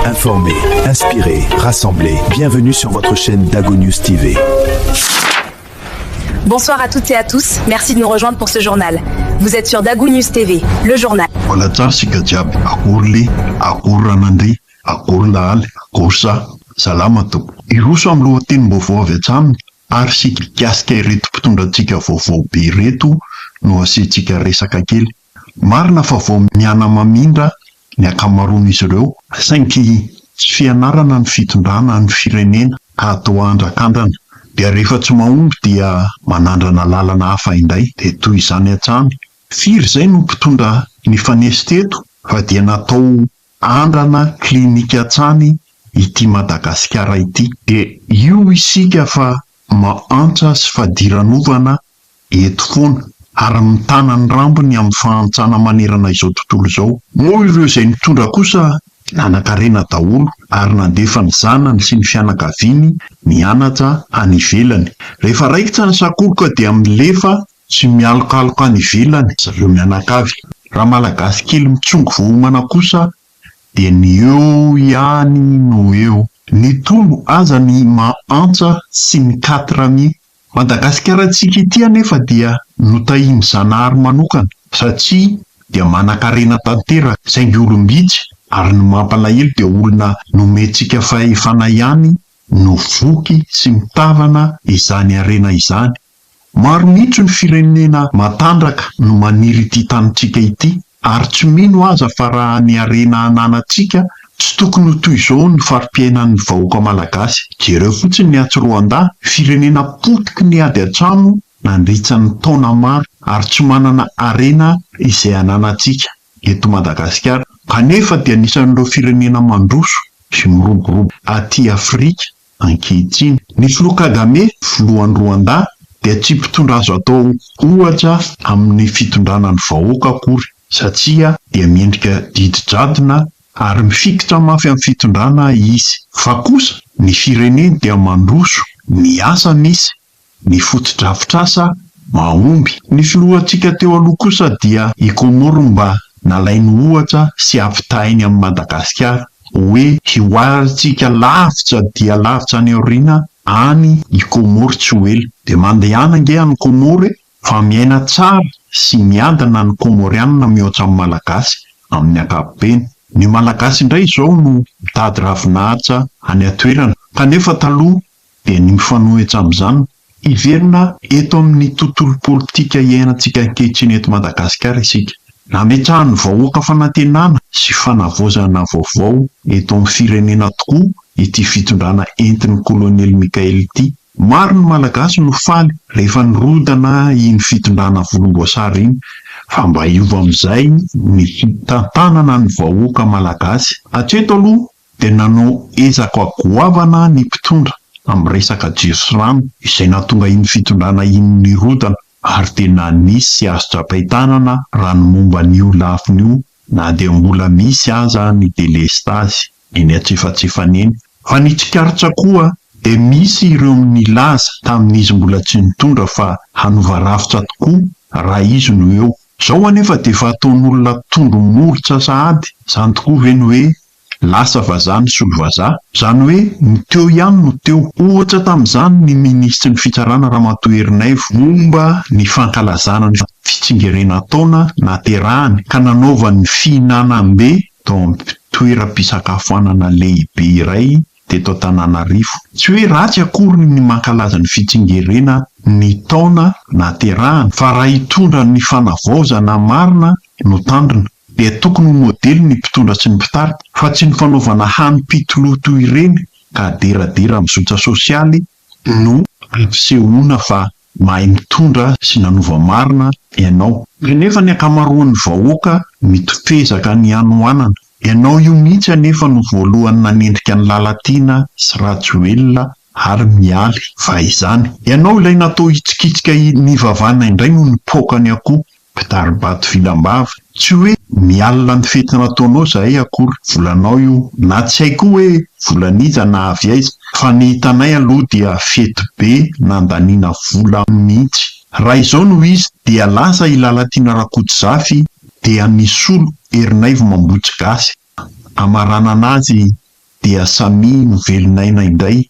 Informer, inspirer, rassembler. Bienvenue sur votre chaîne Dago News TV. Bonsoir à toutes et à tous. Merci de nous rejoindre pour ce journal. Vous êtes sur Dago News TV, le journal. Voilà, tsara sika jiaby akory le akory ranandry akory lahaly akory sa salama to iroso amin'ny lohatenim-baovao avy hatsy aminy Ary sy mikasika ireto mpitondra antsika vaovao be ireto no asiantsika resaka kely. Marina fa vao mianamamindra ny ankamaroan'izy ireo, saingy tsy fianarana ny fitondrana ny firenena ka toa andrakandrana, dia rehefa tsy mahomby dia manandrana lalana hafa indray, dia toy izany hatrany. Firy izay no mpitondra nifanesy teto fa dia natao Andrana clinique hatrany ity Madagasikara ity. Dia io isika fa mahantra sy fadiranovana eto foana ary mitana ny rambony amin'ny fahantrana manerana izao tontolo izao. Moa ireo izay nitondra kosa nanankarena daholo ary nandefa ny zanany sy ny fianakaviany nianatra any ivelany. Rehefa raikitra ny sakoroka dia milefa Tsy mialokaloka any ivelany zareo mianakavy. Raha malagasy kely mitsongo vao homana kosa dia ny eo ihany no eo. Ny tolo aza ny maha antsa sy ny quatre mi. Madagasikara tsika ity anefa dia notahian'i Zanahary manokana satria dia manankarena tanteraka saingy olom-bitsy ary ny mampalahelo dia olona nomentsika fahefana ihany no voky sy mitavana izany harena izany. Maro mihitsy ny firenena matanjaka no maniry ity tanintsika ity ary tsy mino aza fa raha ny harena ananantsika tsy tokony ho toy izao ny fari-piainan'ny vahoaka malagasy. Jereo fotsiny ny atsy Rwanda, firenena potiky ny ady an-trano nandritsa ny taona maro ary tsy manana harena izay ananantsika eto Madagasikara kanefa dia anisan'ireo firenena mandroso sy miroborobo aty Afrika ankehitriny. Ny Filoha Kagame, Filohan'i Rwanda, dia tsy mpitondra azo atao ohatra amin'ny fitondrana ny vahoaka akory satria dia miendrika didy jadona ary mifikitra mafy amin'ny fitondrana izy. Fa kosa ny fireneny dia mandroso ny asa misy ny fotodrafitrasa mahomby. Ny filohantsika teo aloha kosa dia i Comores mba nalainy ohatra sy ampitahainy amin'i Madagasikara hoe hihoarantsika lavitra dia lavitra any aoriana any i Comores tsy ho ela. Dia mandehana ange any Comores e! Fa miaina tsara sy miadana ny Comorianina mihoatra ny Malagasy amin'ny ankapobeny. Ny Malagasy indray izao no mitady ravinahitra any an-toerana kanefa taloha dia ny mifanohitra amin'izany, hiverina eto amin'ny tontolo politika iainantsika ankehitriny eto Madagasikara isika. Nametrahan'ny vahoaka fanantenana sy fanavaozana vaovao eto amin'ny firenena tokoa ity fitondrana entin'ny Kolonely Mickaël ity. Maro ny Malagasy no faly rehefa nirodana iny fitondrana volomboasary iny, fa mba hiova amin'izay ny fitantanana ny vahoaka Malagasy. Hatreto aloha dia nanao ezaka goavana ny mpitondra tamin'ny resaka jiro sy rano izay nahatonga iny fitondrana iny nirodana ary dia nanisy azy tra-pahitanana raha ny momba an'io lafiny io na dia mbola misy aza ny delestazy eny antsefatsefany eny. Fa ny tsikaritra koa dia misy ireo nilaza tamin'izy mbola tsy nitondra fa hanova rafitra tokoa raha izy no eo. Izao anefa dia efa ataon'olona tondro molotra sahady, izany tokoa ve ny hoe Lasa vazaha ny solovazaha. Izany hoe ny teo ihany no teo. Ohatra tamin'izany ny minisitry ny fitsarana Ramatoa Erinaivo momba ny fankalazana ny fitsingerenantaona naterahany ka nanaovany ny fihinanam-be tao amin'ny toeram-pisakafoanana lehibe iray teto Antananarivo. Tsy hoe ratsy akory ny mankalaza ny fitsingerena ny taona nahaterahana fa raha hitondra ny fanavaozana marina no tandrina dia tokony ho modely ny mpitondra sy ny mpitarika fa tsy ny fanaovana hanim-pitoloha toy ireny ka aderadera amin'ny zotra sosialy no ampisehoana fa mahay mitondra sy nanova marina ianao. Kanefa ny ankamaroan'ny vahoaka mitoto ezaka ny hanohanana. Ianao io mihitsy anefa no voalohany nanendrika an'i Lalatiana sy Rajoelina ary Mialy va izany? Ianao ilay natao hitsikitsika nivavàna indray no nipoaka ny akoho Mpitari-bato vinambava, tsy hoe mialona ny fety nataonao zahay akory, volanao io, na tsy hay koa hoe volan'iza na avy aiza, fa ny hitanay aloha dia fety be nandaniana vola mihitsy. Raha izao no izy dia lasa i Lalatiana Rakotozafy dia nisolo Ernaivo Mambotsy Gasy, amaranana azy dia samia novelon'aina indray